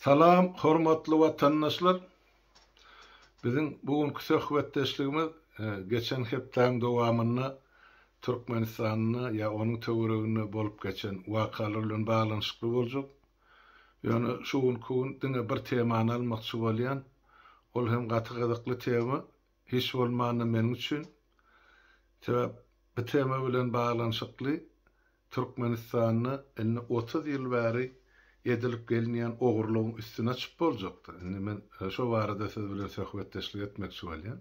Salam hormatly watandaşlar! Biziň bu günki söhbetdeşligimiz geçen hepdäň dowamynda Türkmenistanda ýa onuň töwereginde bolup geçen wakalar bilen baglanyşykly boljak. Ýöne şu günki gün diňe bir temany almakçy bolýan. Ol hem gaty gyzykly tema hiç bolmanda meniň üçin. Sebäp bu tema bilen baglanyşykly Türkmenistanda indi otuz ýyl bäri edilip gelinýän ogurlygyň üstüne çyp boljakda, indi men şo barada siz bilen söhbetdeşlik etmekçi bolýan.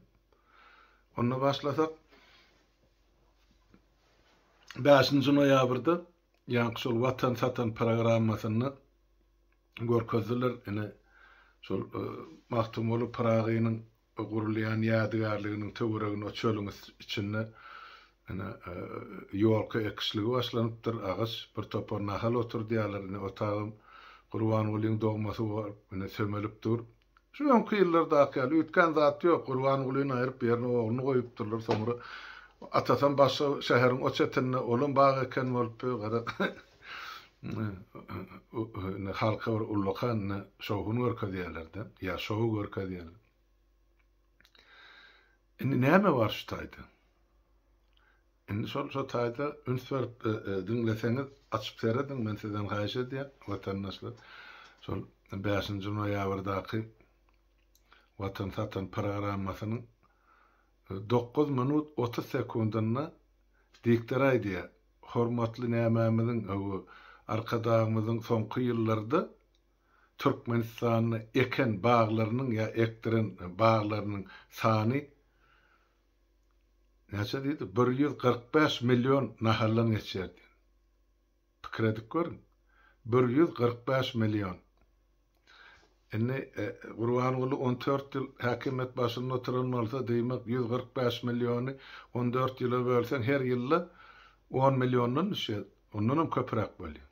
Onda başlasak, bäşinji noýabrda ýaňky şol Watan satan programmasynda görkezdiler, ine, şol Magtymguly Pyragynyň Bu gurulýan ýadygärliginiň töweregini çölüň içinde ine, ýolka ekişligi başlanypdyr. Agaç, bir topar nahal oturdýarlar. Ine, otagam Gurbangulyň dogmasy bor. Ine, sömelip dur. Şu öňki ýyllardaky ýaly üýtgän zat ýok. Gurbangulyny aýryp, ýerine ogluny goýupdyrlar. Soňra atasam başga şäheriň o çetinde, olam bag eken bolupdy. Gara, indi halka bir ullakan şowhun görkezýärler-de, ýa şou görkezýärler. Indi näme bar şu taýda? Indi şol şu taýda üns berip diňleseňiz, açyp serediň, men sizden haýyş edýän, watandaşlar. Şol 5-nji noýabrdaky Watan satan programmasynyň Dokuz minut otuz sekundynda diktor aýdýar, Hormatly nämämiziň, hawa, Arkadagymyzyň soňky ýyllarda Türkmenistanda eken baglarynyň ýa ekdiren baglarynyň sany näçe diýdi, bir ýüz kyrk bäş million nahaldan geçýär diýdi. Pikir edip görüň. Bir ýüz kyrk bäş million. Indi Gurbanguly on dört ýyl häkimiýet başynda oturan bolsa, diýmek, ýüz kyrk bäş milliony on dört ýyla bölseň, her ýylda on milliondan düşýär. Ondanam köpräk bolýar.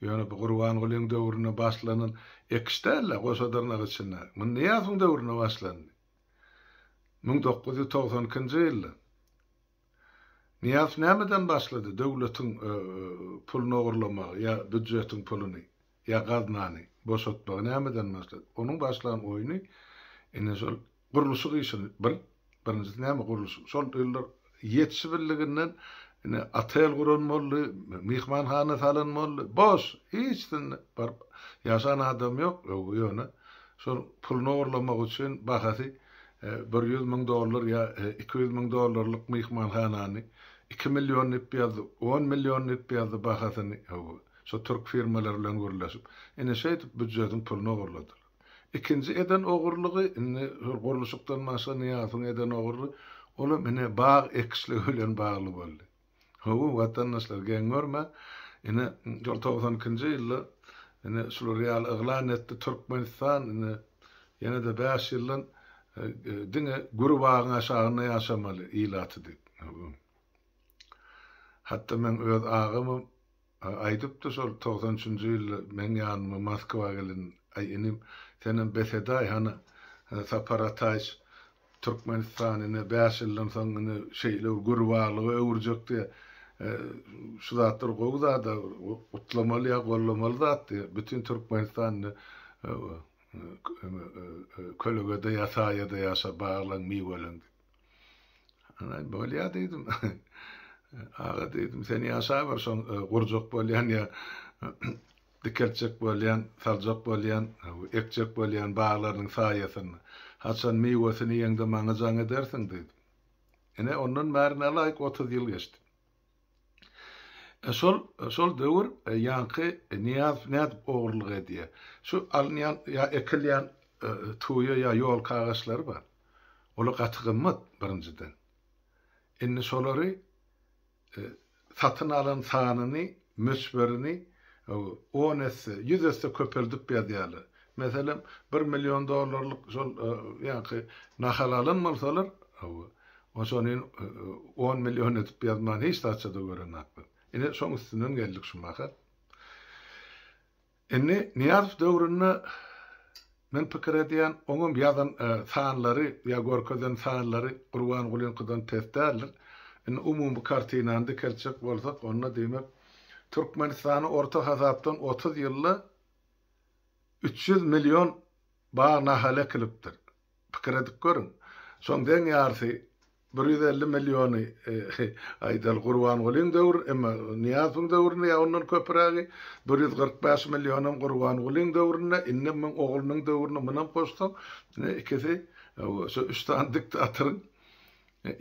Ýöne bu Gurbangulyň döwründe başlanan ekiş däl-ä, goşadyrnak içindäki. Muny Nyýazowyň döwründe başlandy. Müň dokuz ýüz togsan ikinji ýylda. Nyýaz nämeden başlady döwletiň puluny ogurlamagy ýa býudjetiň puluny ýa gaznany boşatmagy nämeden başlady onuň başlan oýny ine şol gurluşyk işini bir birinjisi näme gurluşyk şol ýyllar ýetişibildiginden ine otel guran boldy myhmanhana salan boldy boş hiç sinde baryp ýaşan adam ýok öwgi ýöne şol puluny ogurlamak üçin bahasy Bir ýüz müň dollar ýa iki ýüz müň dollarlyk myhmanhanany iki million dip ýazdy, on million dip ýazdy bahasyny hawa, şo türk firmalary bilen gürleşip. Ine şeýdip býujetiň pulyny ogurladylar. Ikinji eden ogurlygy indi şol gurluşykdan başga Nyýazowyň eden ogurly, olam ine bag ekişligi bilen bagly boldy. Hawa, watandaşlar, geň görme, ine, şol togsan ikinji ýylda, ine, şular ýaly yglan etdi, Türkmenistan, ine, ýene-de bäş ýyldan diňe güri bagyň aşagynda ýaşamaly ilaty diýip. Hatda meň öz agamam, Aýdypdy şol togsan üçünji ýylda meň ýanyma Moskwa gelen, Aý inim, senem bes edaý hany, Sapar Ataýyç Türkmenistan ine bäş ýyldan soň ine şeýle bir gürbalyga öwürjek diýe, şu zatlar gowy zada, gutlamaly ýa gollamaly zat diýe, bütin Türkmenistan indi kölegede ýa saýada ýaşa, baglaň miweleň diýip. Ana bolýa diýdim. Aga diýdim, sen ýaşaber şoň e, gurjak bolýan ýa dikeltjek bolýan, saljak bolýan, ekjek bolýan baglarynyň saýasynda. Haçan miwesini ýeňde maňa jaň edersiň diýdim. Ine ondan bäri nälaýyk 30 ýyl geçdi. Şol şol döwür ýaňky Nyýazow nädip ogurlyk edýä? Şu alynýan ýa ekilýän tuýa ýa ýolka agaçlary bar. Olar gaty gymmat birinjiden. Indi şolary satyn alan sanyny, möçberini on esse, ýüz esse köpeldip ýazýarlar. Meselem, bir million dollarlyk şol ýaňky nahal alan bolsalar, hawa, oçonin on million edip ýazman hiç zatça-da görenoklar. Ine, şoň üstünden geldik şu mahal. Indi Nyýazow döwründe men pikir edýän, oňam ýazan sanlary ýa görkezen sanlary Gurbangulyňkydan pes däldir. Indi umumy kartinany dikeltjek bolsak, onda diýmek, Türkmenistany orta hasapdan otuz ýylda Üç ýüz million bag nahaly ekilipdir. Pikir edip görüň. Şoň deň ýarysy, bir ýüz elli milliony, aýdaly, Gurbangulyň döwri, emma Nyýazowyň döwründe ýa ondan köpürägi, bir ýüz kyrk bäş millionam Gurbangulyň döwründe, indem muň oglunyň döwrüne munam goşsaň, ine, ikisi, hawa, şu üç sany diktatoryň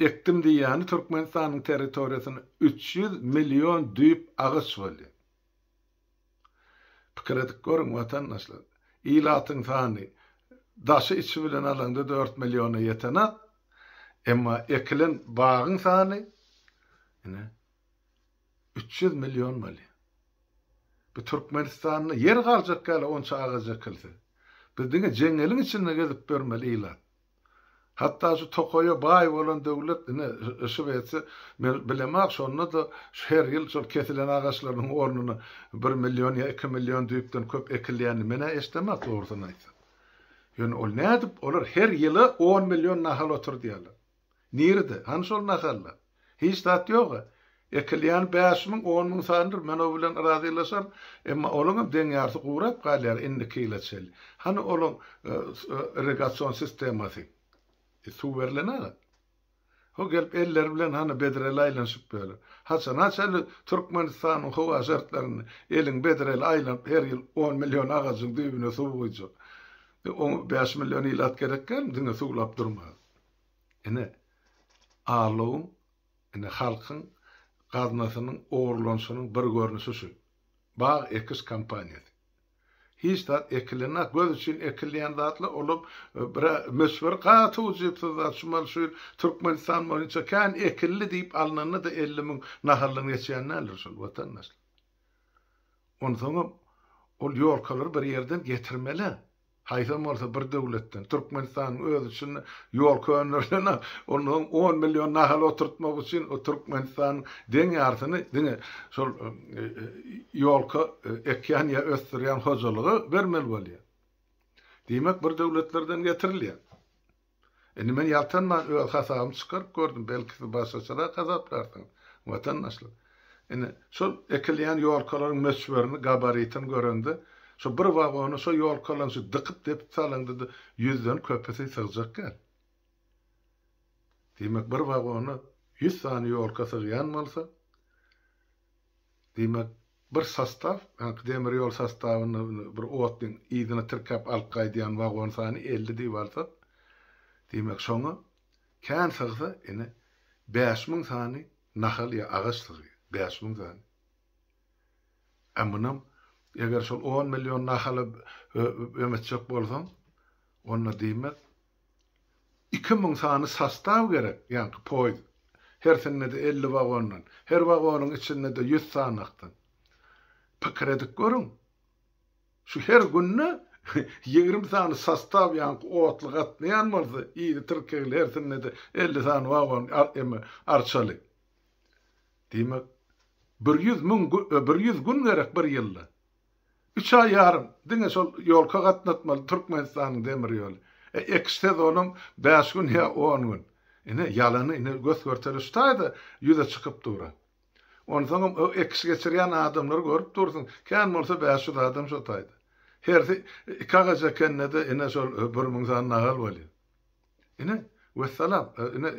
ekdim diýýäni Türkmenistanyň territoriýasynda üç ýüz million düýp agaç bolýar. Pikir edip görüň, watandaşlar, ilatyň sany daşy-içi bilen alaňda dört milliona ýetenok, emma ekilen bagyň sany, ine, üç ýüz million bolýar. Bu Türkmenistanda ýer galjak ýaly onça agaç ekilse. Biz diňe jeňňeliň içinde gezip ýörmeli ilat. Hatda şu tokaýa baý bolan döwlet ine, yşyk etse, men bilemok, şonda-da her ýyl şol kesilen agaçlarynyň ornuna bir million ýa iki million düýpden köp ekilýänini men-ä eşidemok, dogrusyny aýtsak. Ýöne ol nädip, olar her ýyl-a on million nahal oturdýarlar. Nirede? Hany şol nahallar? Hiç zat ýog-a. Ekilýäni bäş müň, on müň sanydyr, men o bilen razylaşaryn. Emma olaňam deň ýarysy gurap galýar indiki ýyla çenli. Hany olaň irrigasion sistemasy? Suw berlen-a. Ho gelip elleri bilen hany bedreli aýlanyşyp ýörler. Haçana çenli Türkmenistanyň howa şertlerinde eliň bedreli aýlanyp her ýyl on million agajyň düýbüne suw guýjak? Oňa bäş million ilat gerek dälmi diňe suwlap durmaga? Ine, Allowyň, ine, halkyň gaznasynyň ogurlanyşynyň bir görnüşi şu, bag ekiş kampaniýasy. Hiç zat ekilenok, göz üçin ekilýän zatlar, olam bir-ä möçberi gaty ujypsyz zat. Şumal şu ýyl Türkmenistan boýunça kän ekildi diýip alnanda-da elli müň nahaldan geçýän däldir şol, watandaşlar. Onsoňam, ol ýolkalary bir ýerden getirmeli-ä. Haýsam bolsa bir döwletden, Türkmenistanyň özi üçin ýol könderilen, onda on million nahal oturtmak üçin o Türkmenistanyň deň ýarsyny diňe şol ýolka ekýän ýa ösdürýän hojalyga bermeli bolýar. Diýmek bir döwletlerden getirilýär. Indi men ýaltanman öz hasabymy çykaryp gördüm, belki siz başgaçarak hasaplarsyňyz, watandaşlar. Indi şol ekilýän ýolkalaryň möçberini, gabaritini görende, şo bir wagona şo ýolkalaryň şu dykyp-depip salyndy-da, ýüzden köpüsi sygjak däl. Diýmek, bir wagona ýüz sany ýolka sygýan bolsa, Diýmek, bir sostaw, ýaňky demir ýol sostawynda bir otlyň yzyna tirkäp alyp gaýdýan wagon sany elli diýip alsak, diýmek, şoňa kän sygsa, ine, bäş müň sany nahal ýa agaç sygýar. Bäş müň sany. Ä munam, eger şol on million nahala öwmetjek bolsaň, onda diýmek, Iki müň sany sostaw gerek, ýaňky poýiz, hersinde-de elli wagondan, her wagonyň içinde-de ýüz sanakdan. Pikir edip görüň, şu her günde ýigrimi sany sostaw ýaňky otly gatnaýan bolsa, ýedi tirkegli, hersinde-de elli sany wagon, eme, arçaly. Diýmek, bir ýüz müň, bir ýüz gün gerek bir ýylda. Üç aý ýarym diňe şol ýolka gatnatmaly Türkmenistanyň demir ýoly. E ekiş sezonyň bäş gün ýa on gün. Ine, ýalany ine gös-görtele şu taýda ýüze çykyp dur. Onsoňam o ekiş geçirýän adamlary görüp dursuň, kän bolsa bäş ýüz adam şo taýda. Hersi iki agaç ekende-de ine şol bir müň sany nahal bolýar. Ine, wessalam, ine,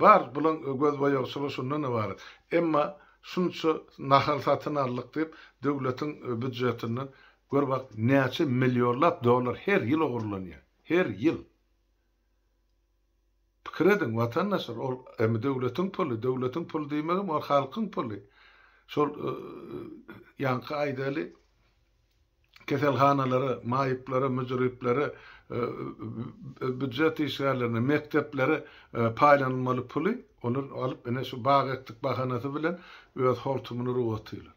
bar, bulaň gözboýagy şular şundan ybarat. Emma şunça nahal satyn aldyk diýip, döwletiň býudjetinden, gör bak, näçe millionlap dollar her ýyl ogurlanýar. Her ýyl. Pikir ediň, watandaşlar, ol hem döwletiň puly, döwletiň puly diýmegem, ol halkyň puly. Şol ýaňky aýdaly. keselhanalary, maýyplary, müdiripleri, býujet işgärlerini, mekdepleri paýlanylmaly puly olar alyp ine şu bag ekdik bahanasy bilen öz hortumyny urip otyrlar.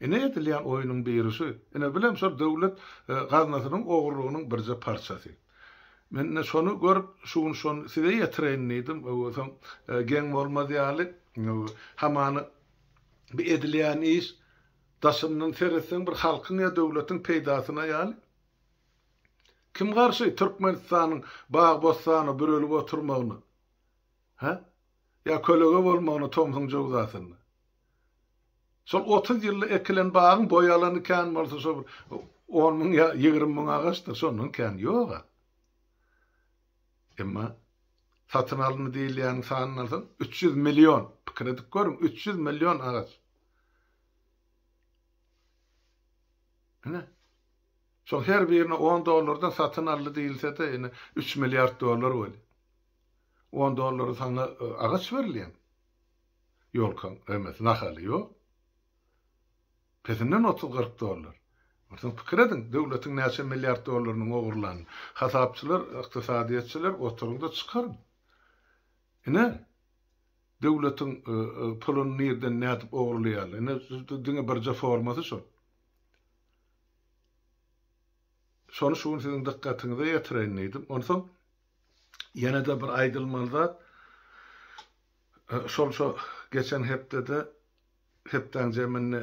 Ine edilýän oýnuň biri şu. Ine bilem şol döwlet gaznasynyň ogurlygynyň birje parçasy. Men ine şony görüp şu gün şony size ýetireýin diýdim. Öwezem geň bolmaz ýaly hamany bu edilýän iş Daşyndan seretseň bir halkyň ýa döwletiň peýdasyna ýaly. Kim garşy Türkmenistanyň bag-bossana bürelip oturmagyna? Hä? Ýa kölege bolmagyna tomsuň jöwzasynda? Şol otuz ýylda ekilen bagyň boý alany kän bolsa şo bir on müň ýa ýigrimi müň agaçdyr, şondan kän ýog-a. Emma satyn alyndy diýilýäniň sanyny alsaň, üç ýüz million, pikir edip görüň, üç ýüz million agaç. Ine, şol her birini on dollardan satyn aldy diýilse-de, ine, üç milliard dollar bolýar. On dollara saňa agaç berilýärmi? Ýolkaň, emesi, nahaly, ýok. Pesinden otuz-kyrk dollar. Onsoň pikir ediň, döwletiň näçe milliard dollarynyň ogurlanyny. Hasapçylar, ykdysadyýetçiler, oturyň-da, çykaryň. Ine. Döwletiň puluny nirden nädip ogrulaýarlar. Ine diňe birje formasy şol. Şony şu gün siziň dykgatyňyza ýetireýin diýdim. Onsoň ýene-de bir aýdylmaly zat şol şu geçen hepdede hepdäň jeminde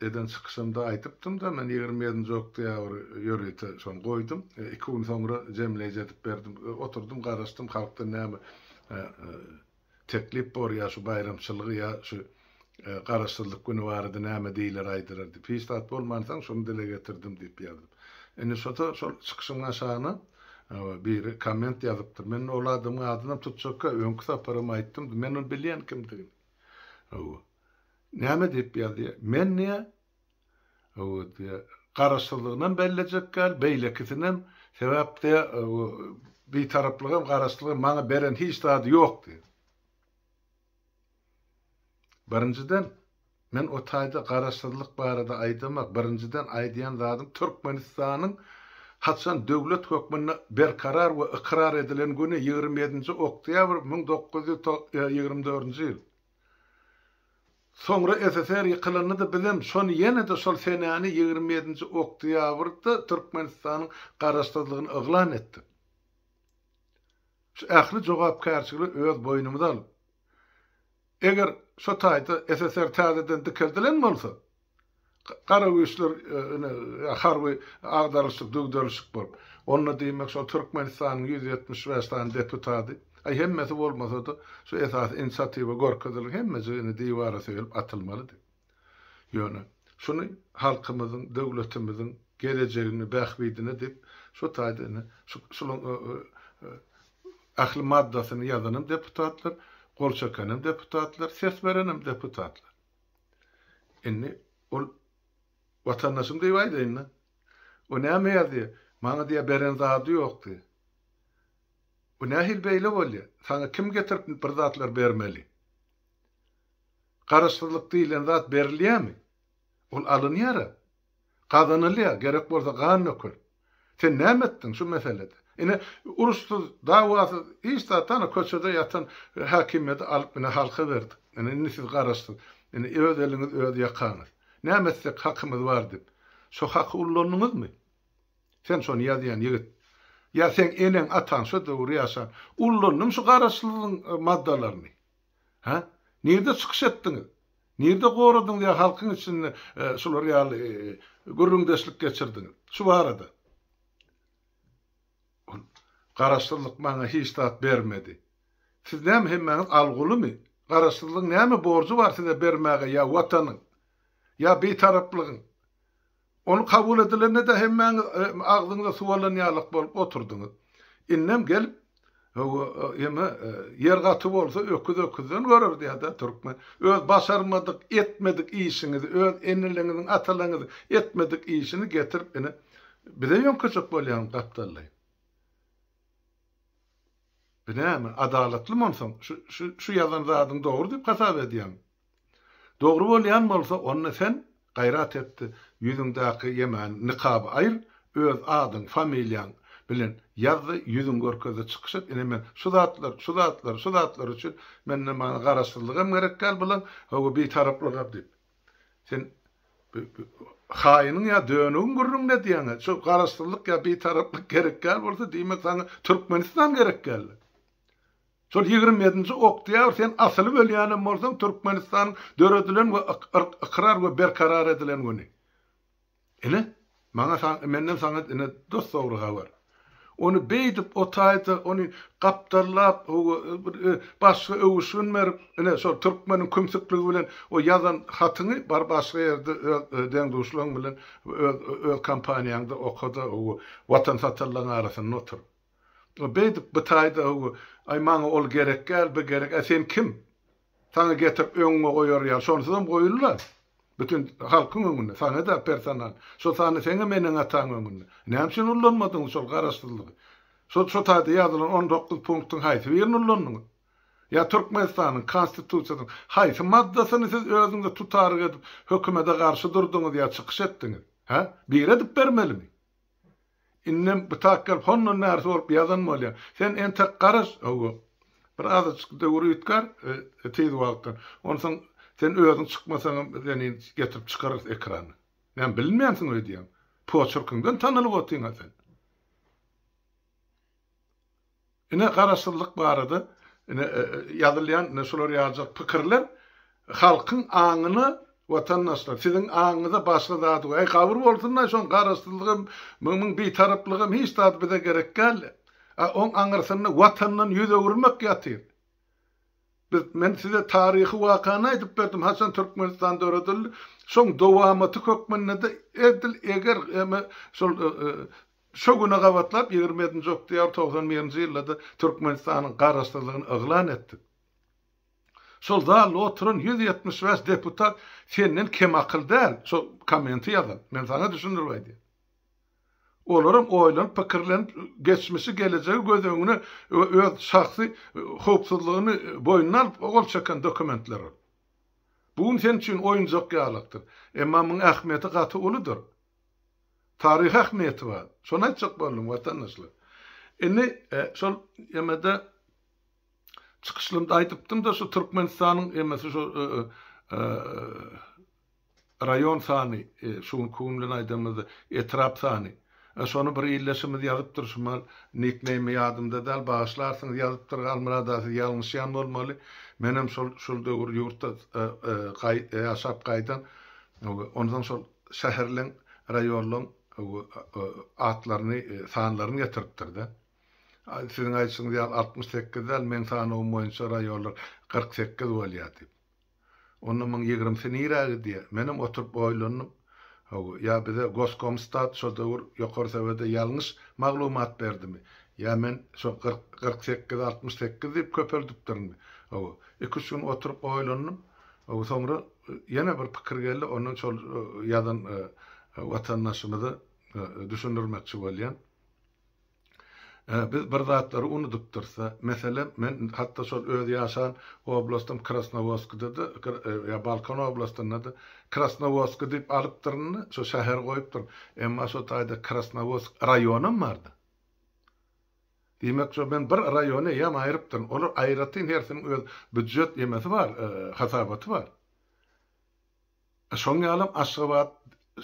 Eden çykyşymda aýdypdym-da, men ýigrimi ýedinji oktýabry ýörite şony goýdum. Iki gün soňra jemleýji edip berdim. Oturdym, garaşdym, halkdan näme teklip bor, ýa şu baýramçylygy, ýa şu Garaşsyzlyk güni barada näme diýler, aýdylar diýip. Hiç zat bolmansoň, şuny dile getirdim diýip ýazdym. Indi şo-da şol çykyşyň aşagyna biri komment ýazypdyr. Men ol adamyň adynam tutjakka, öňki saparam aýtdym, men ony bilýän kimdigini. Hawa. Näme diýip ýazýa? Men diýä, owo diýä, garaşsyzlygynam bellejek däl, beýlekisinäm, sebäp diýä, owo, Bitaraplygam, garaşsyzlygam maňa beren hiç zady ýok diýä. Birinjiden, men o taýda garaşsyzlyk barada aýdamak, birinjiden aýdýan zadym Türkmenistanyň haçan döwlet hökmünde berkarar we ykrar edilen güni ýigrimi ýedinji oktýabr müň dokuz ýüz ýigrimi dördünji ýyl. Soňra SSR ýykylandy-da bizem şony ýene-de şol senäni ýigrimi ýedinji oktýabrda Türkmenistanyň garaşsyzlygyny yglan etdik. Şu ähli jogapkärçiligi öz boýnumyza alyp, eger şu taýda SSR täzeden dikeldilen bolsa, Gara güýçler ine harby agdaryşyk-düwderişik bolup, onda diýmek şol Türkmenistanyň ýüz ýetmiş bäş sany deputaty, aý hemmesi bolmasa-da, şu esasy inisiatiwa görkezilgi hemmejigi indi diwara söýelip atylmalydy. Ýöne, şuny halkymyzyň, döwletimiziň gelejegini, bähbidine diýip, şu taýda ine şu şulaň ähli maddasyny ýazanym deputatlar, gol çekenim deputatlar, ses berenim deputatlar. Indi ol watandaşym diýip aýdaýyn-da. O näme ýazýar? Maňa diýýär beren zady ýok diýýär. Bu nähili beýle bolýar? Saňa kim getirip bir zatlar bermeli? Garaşsyzlyk diýlen zat berilýärmi? Ol alynýar-a. Gazanylýar, gerek bolsa gan dökül. Sen näme etdiň şu meselede? Ine, uruşsyz, dawasyz, hiç zat, ana, köçede ýatan häkimiýeti alyp, ine, halka berdik. Ine, indi siz garaşsyz. Ine, öz eliňiz, öz ýakaňyz. Näme etsek hakymyz bar diýip, şo haky ullandyňyzmy? Sen şony ýazýan ýigit. Ýa seň eneň, ataň şo döwür ýaşan. Ullandyň şu garaşsyzlygyň maddalaryny. Hä? Nirde çykyş etdiňiz? Nirde goradyňyz ýa halkyň içinde şular ýaly gürrüňdeşlik geçirdiňiz? Şu barada. Ol, Garaşsyzlyk maňa hiç zat bermedi. Siz näme hemmäňiz algulymy? Garaşsyzlygyň näme borjy bar size bermäge ýa Watanyň? Ýa Bitaraplygyň? Ol kabul edilende-de hemmäňiz agzyňyza suw alan ýalyk bolup oturdyňyz. Indem gelip, Hawa, eme, ýer gaty bolsa öküz öküzden görer diýýär-dä türkmen. Öz başarmadyk, etmedik işiňizi, öz eneleňiziň, atalaňyzyň etmedik işini getirip ine, bize ýöňkejek bolýaňyz gapdallaý. Bu näme, adalatlymy onsoň, şu ýazan zadyň dogry diýip hasap edýäňmi? Dogry bolýan bolsa onda sen gaýrat etdi ýüzüňdäki ýemäni nikaby aýyr öz adyň familiýaň bilen ýazdy ýüzüň görkezde çykyş et ine men şu zatlar şu zatlar şu zatlar üçin menden maňa garaşsyzlygam gerek däl bulam hawa bitaraplygam diýip sen haýynyň ýa dönügiň gürrüňde diýäňä şu garaşsyzlyk ýa bitaraplyk gerek däl bolsa diýmek saňa türkmenistan gerek däldi. Şol ýigrimi ýedinji oktýabr sen asylyp ölýänem bolsaň Türkmenistanyň döredilen we ykrar we berkarar edilen güni. Ine, maňa menden saňa ine dos dogry habar. Ony beýdip o taýda ony gapdallap bir başga öwüşgin berip ine şol türkmeniň kümsükligi bilen o ýazan hatyňy bar başga ýerde öz deň-duşlaň bilen öz öz kompaniýaňda oka-da Watan satarlaň arasynda otur. Beýdip bytaýda öw, Aý, maňa ol gerekgäl, bi gerek, ä sen kim? Saňa getirip öňüňe goýar ýaly, şonsuzam goýul-la, bütin halkyň öňünde, saňa-da personal, şol sanda seňem eneň-ataň öňünde. Näme üçin ullanmadyňyz şol garaşsyzlygy? Şol şo taýda ýazylan on dokuz punktyň haýsy birini ullandyňyz? Ýa Türkmenistanyň Konstitusiýasynyň haýsy maddasyny siz özüňize tutaryk edip, hökümede garşy durduňyz ýa çykyş etdiňiz? Hä? Biri edip bermelimi? Indem gytak gelip hondan bärisi bolup ýazan bolýar. Sen entek garaş, hawa, bir azajyk döwür üýtgär tiz wagtdan. Onsoň sen özüň çykmasaňam biz seni getirip çykararys ekrana. Näme bilinmänsiň öýdýäňmi? Poçerkiňden tanalyp otyň-a sen. Ine garaşsyzlyk barada ine ýazylýan ine şular ýaljak pikirler halkyň aňyna watandaşlar siziň aňyňyza başga zat we äý gabyr bolsunlaý şoň garaşsyzlygam myň bitaraplygam hiç zat bize gerek däl a oň aňyrsynda watandan ýüz öwürmek ýatyr biz men size taryhy wakany aýdyp berdim haçan Türkmenistan döredildi şoň dowamaty hökmündede edil eger eme şol Şu güne gabatlap ýigrimi ýedinji oktýabr togsan birinji ýylda-da Türkmenistanyň Garaşsyzlygyny yglan etdik. Şol zalda oturan ýüz ýetmiş bäş deputat senden kem akyl däl, şo kommenti ýazan. Men saňa düşündirip aýdýan. Olaram oýlanyp, pikirlenip, geçmişi, gelejegi göz öňüne we öz şahsy howpsuzlygyny boýnuna alyp gol çeken dokumentler ol. Bu gün sen üçin oýunjak ýalakdyr. Emma muň ähmiýeti gaty uludyr. Taryhy ähmiýeti bar. Şony aýtjak boldum, watandaşlar. Indi şol emede çykyşlymda aýdypdym-da, şu Türkmenistanyň emesi şu raýon sany, şu günki gün bilen aýdanymyzda etrap sany. Şony bir ildeşimiz ýazypdyr, şu mal nikneými ýadymda däl, bagyşlarsyňyz, ýazypdyr, Halmyrat aga, siz ýalňyşýan bolmaly. Menem şol döwür ýurtda ýaşap gaýdan, onsoň şol şäherleň, raýonlaň atlaryny, sanlaryny getiripdir-de. Siziň aýdyşyňyz ýaly altmyş sekiz däl, meň sanawym boýunça raýonlar kyrk sekiz bolýar diýip. Onda muň ýigrimisi nirä gidýär? Menem oturyp oýlandym. Hawa, ýa bize Goskomstat şo döwür Ýokary Sowete ýalňyş maglumat berdimi? Ýa men şo kyrk, kyrk sekizi altmyş sekiz diýip köpeldipdirinmi? Hawa, iki-üç gün oturyp oýlandym. Soňra ýene bir pikir geldi, onda şol ýazan watandaşymyza düşündirmekçi bolýan. Biz bir zatlary unudypdyrys-da. Meselem, men hatda şol öz ýaşan oblastym Krasnowodskda-da, ýa Balkan oblastynda-da Krasnowodsk diýip alypdyryn-da, şo şäheri goýupdyryn. Emma şo taýda Krasnowodsk raýonam bar-da. Diýmek, şo men bir raýony eýýäm aýrypdyryn. Olar aýratyn hersiniň öz býujet emesi bar, hasabaty bar. Şoň ýalam Aşgabat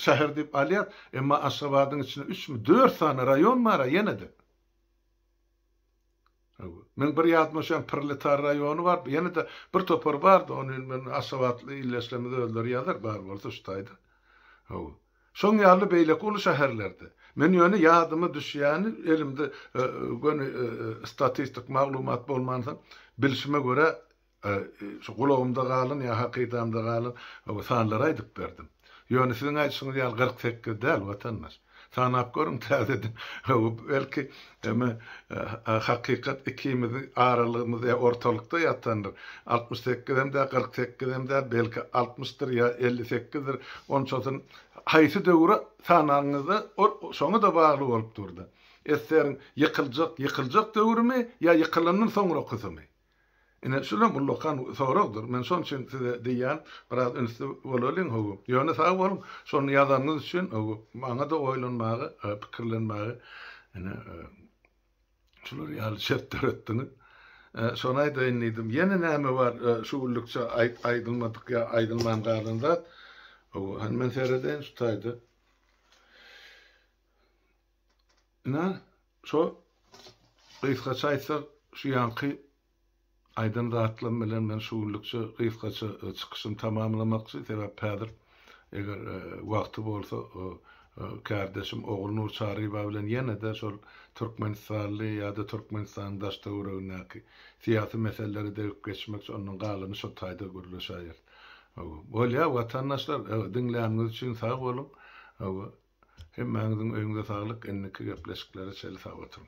şäher diýip alýas, emma Aşgabadyň içinde üçmi, dört sany raýon bar-a ýene-de. Hawa. Meň bir ýadyma düşýän Proletar raýony bar, ýene-de bir topar bar-da, ony men aşgabatly ildeşlerimiz özleri ýazar, bar bolsa şu taýda. Hawa. Şoň ýaly beýleki uly şäherlerde. Men ýöne ýadyma düşýäni, elimde göni statistik maglumat bolman soň, bilşime görä, şu gulagymda galan ýa hakydamda galan sanlary aýdyp berdim. Ýöne siziň aýdyşyňyz ýaly kyrk sekiz däl, watandaş. Sanap görüň täzeden. Belki, Emma hakykat ikimiziň aralygymyz ýa ortalykda ýatandyr. Altmyş sekizem däl, kyrk sekizem däl, belki altmyşdyr ýa elli sekizdir. Onçasyny haýsy döwri sananyňyzda ol şoňa-da bagly bolup dur-da. Eseriň ýykyljak, ýykyljak döwrümi ýa ýykylandan soňrakysymy? Ine, şulam ullakan soragdyr. Men şonuň üçin size diýýän, biraz ünsli bolalyň, hawa. Ýöne sag boluň, şony ýazanyňyz üçin, hawa, maňa-da oýlanmaga, pikirlenmäge, ine, şular ýaly şert döretdiňiz. Şony aýdaýyn diýdim. Ýene näme bar şu günlükçe aýdylmadyk ýa aýdylman galan zat? Hawa, hany men seredeýin şu taýda. Inan, şo, gysgaça aýtsak, şu ýanky aýdan zatlarym bilen men şu günlükçe gysgaça çykyşymy tamamlamakçy, sebäp häzir, eger wagty bolsa, kärdeşim Ogulnur Çaryba bilen ýene-de şol türkmenistanly ýa-da Türkmenistanyň daş-töweregindäki syýasy meseleleri degip geçmekçi, ondan galany şo taýda gürleşäýeris. Bolýar, watandaşlar, diňläniňiz üçin sag boluň. Hemmäňiziň öýüňize saglyk indiki gepleşiklere çeli sag oturyň.